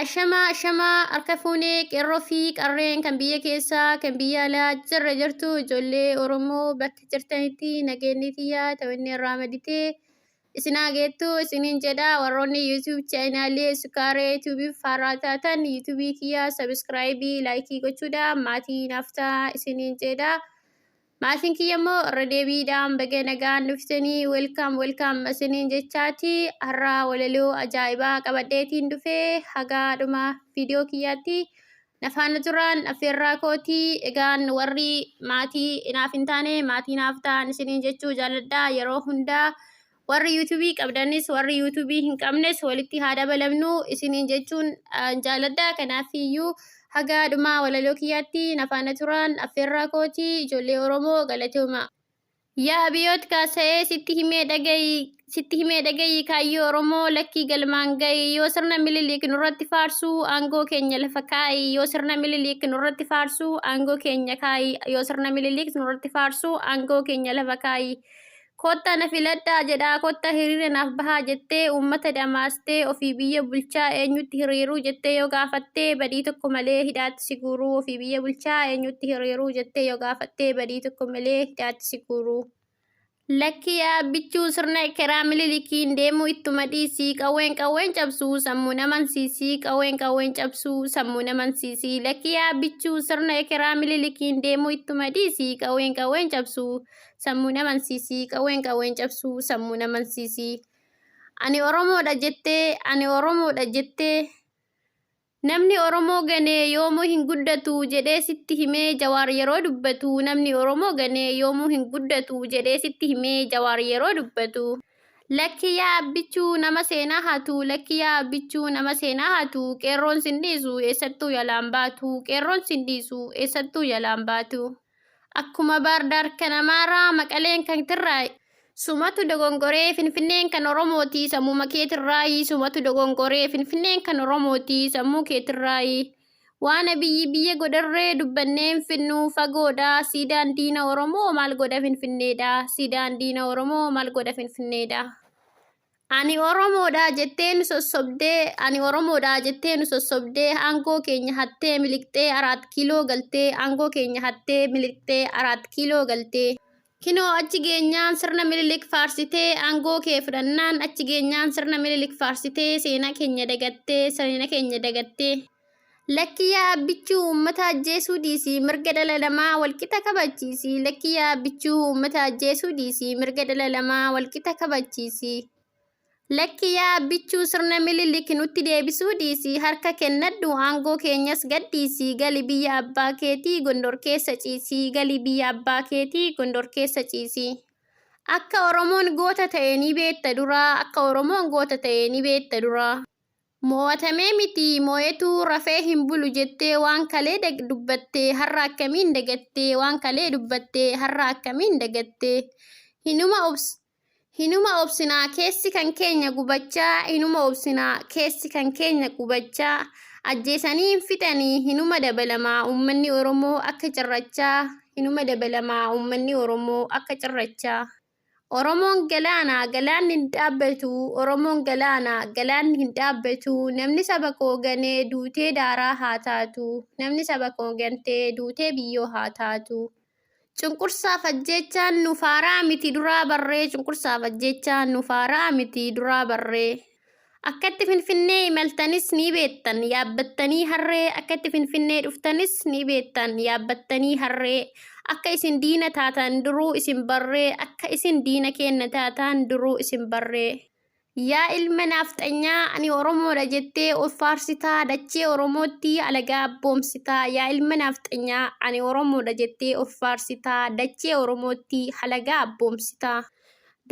Ashamaa ashamaa harka fuunee qeerroo fi qarreen kan biyya keessaa kan biyya alaa jirra jirtu ijoollee Oromoo bakka jirtanitti nageenyi tiyyaa ta'inni irraa maditee Isin haa geettu isiniin jedha warroonni YouTube channel Sukaaree YouTube faaraa taatan YouTube kiyya subscribe like gochuudha maatii naaf ta'a isiniin jedha. Maatiin kiyya immoo irra deebiidhaan baga nagaan dhuftanii welcome welcome isiniin jechaati har'a walaloo ajaa'ibaa qabadheetiin dhufee hagaa dhuma viidiyoo kiyyaatti Na faana turaan affeerraa kooti. Egaan warri maatii inaaf hin taane maatii naaf ta'an isiniin jechuu jaalladha yeroo hundaa. Warri yuutuubii qabdanis warri yuutuubii hin qabnes walitti haa dabalamnu isiniin jechuun ah, jaalladha. Kanaaf iyyuu haga dhumaa walaloo kiyyaatti na faana turaan affeerraa kooti ijoollee Oromoo galatooma. Yaa Abiyoot kaasa'ee sitti himee dhagayi sitti himee dhagayi kaayyoo Oromoo lakkii galmaan gayi yoo sirna Minilik nurratti faarsuu aangoo keenya lafa kaa'i yoo sirna Minilik nurratti faarsuu aangoo keenya kaa'i yoo sirna Minilik nurratti faarsuu aangoo keenya lafa kaa'i kotta na filadhaa jedhaa kotta hiriira naaf bahaa jettee uummata dhamaastee ofii biyya bulchaa eenyutti hiriiruu jettee yoo gaafattee badii tokko malee hidhaat hidhaatti si guuruu, ofii biyya bulchaa eenyutti hiriiruu jettee yoo gaafattee badii tokko malee hidhaatti si guuruu. Lakki yaa abbichuu sirna ekeraa mililikiin deemuu ittuma dhiisii qawween qawween cabsuu sammuu namansiisii qawween qawween cabsuu sammuu namansiisii lakki yaa abbichuu sirna ekeraa mililikiin deemuu ittuma dhiisii qawween qawween cabsuu sammuu namansiisii qawween qawween cabsuu sammuu namansiisii ani oromoodha jettee ani oromoodha jettee Namni Oromoo gane yoomuu hin guddatu jedhee sitti himee Jawaar yeroo dubbatu Namni Oromoo gane yoomuu hin guddatu jedhee sitti himee Jawaar yeroo dubbatu. Lakki yaa Abbichuu nama seenaa hatu Lakki yaa Abbichuu nama seenaa hatu Qeerroon sin dhiisu eessattuu jalaan baatu Qeerroon sin dhiisu eessattuu jalaan baatu. Akkuma Baardaar kan Amaaraa, Maqaleen kan Tirraay. Sumatu dogongoree Finfinneen kan Oromooti sammuma keetirraayi Sumatu dogongoree Finfinneen kan Oromooti sammuu keetirraayi Waan abiyyi biyya godharree dubbanneen finnu fagoodha Siidaan diina Oromoo maal godha Finfinneedha Siidaan diina Oromoo maal godha Finfinneedha Ani Oromoodha jettee nu sossobdee, ani Oromoodha jettee nu sossobdee, aangoo keenya hattee miliqxee araat kiiloo galtee, aangoo keenya hattee miliqxee araat kiiloo galtee. Kinoo achi geenyaan sirna Minilik faarsitee, aangoo kee fudhannaan achi geenyaan sirna Minilik faarsitee, seenaa keenya dagattee, seenaa keenya dagattee. Lakki yaa abbichuu uummata ajjeesuu dhiisii mirga dhala namaa walqixa kabachiisi. Lakki yaa abbichuu uummata ajjeesuu dhiisii mirga dhala namaa walqixa kabachiisi. Lakki yaa abbichuu sirna mililik nutti deebisuu dhiisii harka kennadhu aangoo keenyas gadhiisii gali biyya abbaa keetii gondor keessa ciisii gali biyya abbaa keetii gondor keessa ciisii. Akka Oromoon goota ta'e ni beekta duraa akka Oromoon goota ta'e ni beekta duraa. Moo'atamee miti moo'etu rafee hin bulu jettee waan kalee dubbatte har'a akkamiin dagatte waan kalee dubbatte har'a akkamiin dagatte hinuma obs hinuma obsina keessi kan keenya gubachaa hinuma obsina keessi kan keenya gubachaa ajjeesanii hin fixanii hinuma dabalama uummanni Oromoo akka cirrachaa hinuma dabalama uummanni Oromoo akka cirrachaa. Oromoon galaana, galaanni hin dhaabbatu, Oromoon galaana, galaanni hin dhaabbatu, namni saba koo gane duutee daaraa haa taatu, namni saba koo gante duutee biyyoo haa taatu. Cunqursaaf ajjeechaan nuuf haaraa miti duraa barree, cunqursaaf ajjeechaan nuuf haaraa miti duraa barree. Akkatti Finfinnee imaltanis ni beektan, yaabbattanii harree, akkatti Finfinnee dhuftanis ni beektan, yaabbattanii harree, akka isin diina taatan duruu isin barree, akka isin diina keenna taatan duruu isin barree. Yaa ilma naafxanyaa, ani Oromoodha jettee of faarsitaa, dachee Oromootti alagaa abboomsitaa. Yaa ilma naafxanyaa, ani Oromoodha jettee of faarsitaa, dachee Oromootti halagaa abboomsitaa.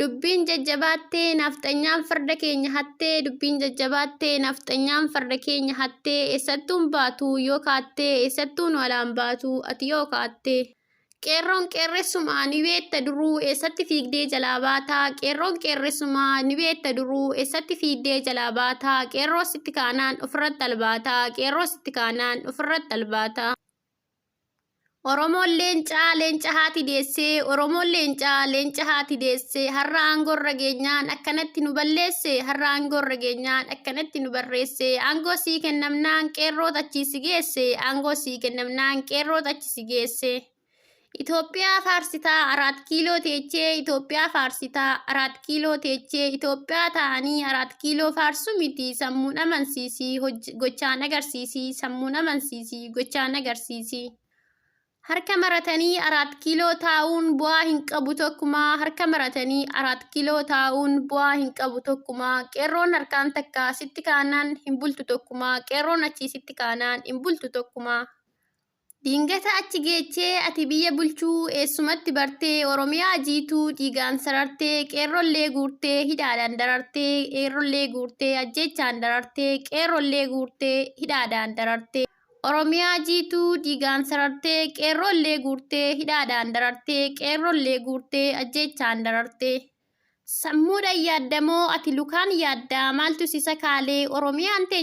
Dubbiin jajjabaattee nafxanyaan farda keenya hattee Dubbiin jajjabaattee nafxanyaan farda keenya hattee Eessattuun baatu yoo kaattee Eessattuun walaan baatu ati yoo kaattee Qeerroon qeerressumaa ni beetta duruu Eessatti fiigdee jalaa baata Qeerroon qeerressumaa ni beetta duruu Eessatti fiigdee jalaa baata Qeerroo sitti kaanaan ofirratti albaata Qeerroo sitti kaanaan ofirratti albaata. Oromoon leencaa leenca haati deessee Oromoon leencaa leenca haati deessee har'a aangoo irra geenyaan akkanatti nu balleesse har'a aangoo irra geenyaan akkanatti nu barreesse aangoo sii kennamnaan qeerroot achii si geesse aangoo sii kennamnaan qeerroot achi si geesse Itoophiyaa faarsitaa araat kiiloo teechee Itoophiyaa faarsitaa araat arat kiiloo teechee Itoophiyaa taa'anii arat kiiloo faarsuu miti sammuun amansiisi gochaan agarsiisi sammuun amansiisi gochaan agarsiisi. Harka maratanii arat kiiloo taa'uun bu'aa hin qabu tokkumaa harka maratanii arat kiiloo taa'uun bu'aa hin qabu tokkumaa qeerroon harkaan takka sitti kaanaan hin bultu tokkumaa qeerroon achii sitti kaanaan hin bultu tokkumaa. Dingata achi geechee ati biyya bulchuu eessumatti bartee Oromiyaa jiituu dhiigaan sarartee qeerrollee guurtee hidhaadhaan darartee qeerrollee guurtee ajjeechaan darartee qeerrollee guurtee hidhaadhaan darartee Oromiyaa jiituu dhiigaan sarartee qeerrollee guurtee hidhaadhaan darartee qeerrollee guurtee ajjeechaan darartee sammuudhaan yaaddamoo ati lukaan yaaddaa maaltu si sakaalee Oromiyaan teenya